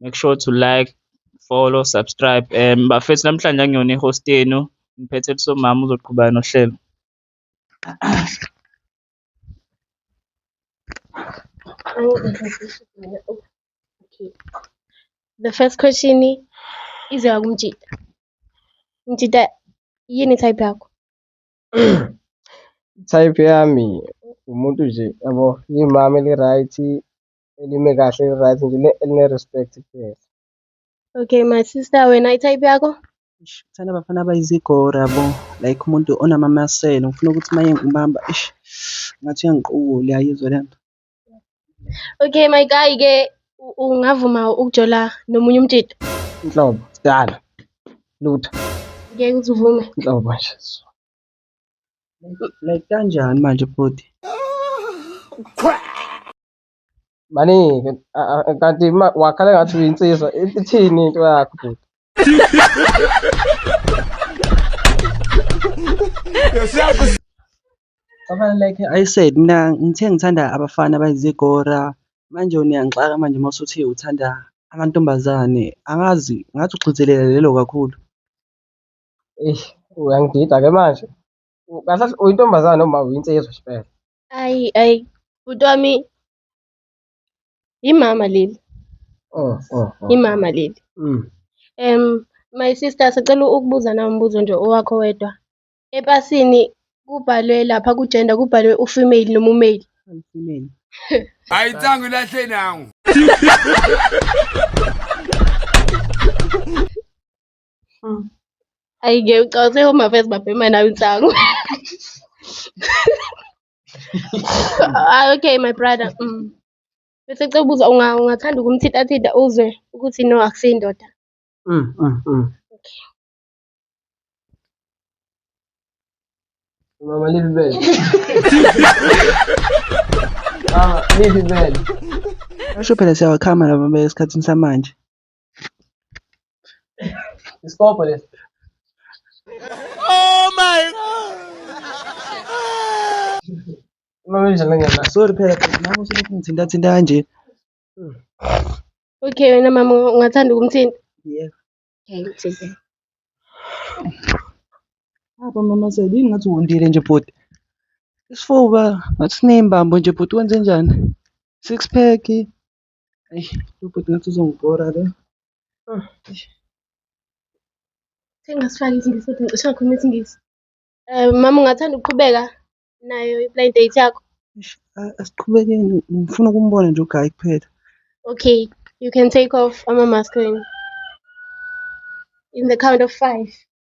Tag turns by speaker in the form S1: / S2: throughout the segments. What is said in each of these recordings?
S1: make sure to like follow subscribe um bafethu namhlanje angiyona i-host yenu ngiphethe lisomama uzoqhubeka nohlelo
S2: Okay. The first question ize wakumjita. Mjita yini type yakho?
S3: type yami umuntu nje yabo imama eli-right elime kahle right nje eline respect kuphela okay
S2: my sister wena i-type yakho Eish, ngithanda abafana
S4: abayizigora bo like umuntu onamamaselo ngifuna ukuthi uma engibamba ish ngathi uyangiqukula uyayizwa le nto
S2: okay my guy ke u- ungavuma ukujola nomunye umtshito inhlobo
S3: sidala lutho ngeke
S2: uzivume inhlobo
S4: nje like kanjani manje bhuti
S3: Maningi kanti wakhala ngathi uyinsizwa ithini into yakho bhuti.
S4: Abana like I said mina ngithe ngithanda abafana abayizigora manje uniyangixaka manje uma usuthi uthanda amantombazane angazi ngathi ugxizelela lelo kakhulu. Eish
S3: uyangidida ke manje. Kahle uyintombazane noma uyinsizwa shpela. Ayi ayi
S2: bhuti wami imama leli. Oh oh. oh. Imama leli. Mm. Um my sister sicela ukubuza na umbuzo nje owakho wedwa. Epasini kubhalwe lapha ku gender kubhalwe u female noma u male. Female.
S4: Hayi
S5: tsangu lahle nangu.
S2: Hmm. Ayi ngeke ucawuse home affairs babhema nawe insangu. Ah okay my brother. Mm. Bese cela ubuza unga ungathanda ukumthinta thinta uzwe ukuthi no akusindoda. Mm,
S3: mm, mm. Mama live bed. Mama live bed. Asho
S4: phela siyawakhama laba besikhathini samanje.
S3: Isipobho lesi. Oh
S5: my god.
S3: Mama njani ngena? Sorry phela phela mama
S4: uselokhu ngithinta thinta kanje.
S2: Okay wena mama ungathanda ukumthinta?
S4: Yebo.
S2: Okay,
S4: ngithinta. Apha mama sebe ingathi wondile nje bhuti. Isifuba ngathi sinembambo nje bhuti wenze njani? Six pack. Ay, lo bhuti ngathi uzongibhora lo. Oh,
S2: eish. Sengasifaki isingisi futhi ngicishe ngakhuluma isingisi. Eh mama ungathanda ukuqhubeka nayo i-blind date yakho? Eish, a- asiqhubekeni
S4: ngifuna ukumbona nje ugayi kuphela Okay,
S2: you can take off ama-mask wenu. In the count of five.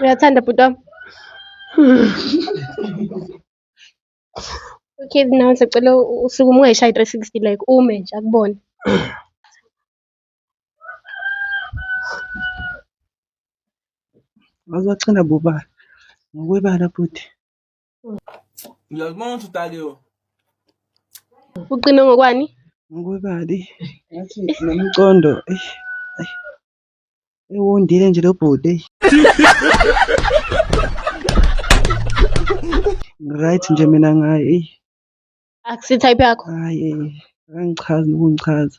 S2: Uyathanda bhuti wami? Okay, now sicela usuke uma ungayishayi 360 like ume nje akubone.
S4: Waze waqina bobani ngokwebala bhuti. Uyazibona
S5: ukuthi udakiwe. Uqine
S2: ngokwani? Ngokwebali. Ngathi
S4: nomcondo. Eish. Eish. Ewondile nje lo bhuti. eish. Right nje mina ngaye. eish. Akusi
S2: type yakho. Hayi. eish.
S4: Akangichazi nokungichaza.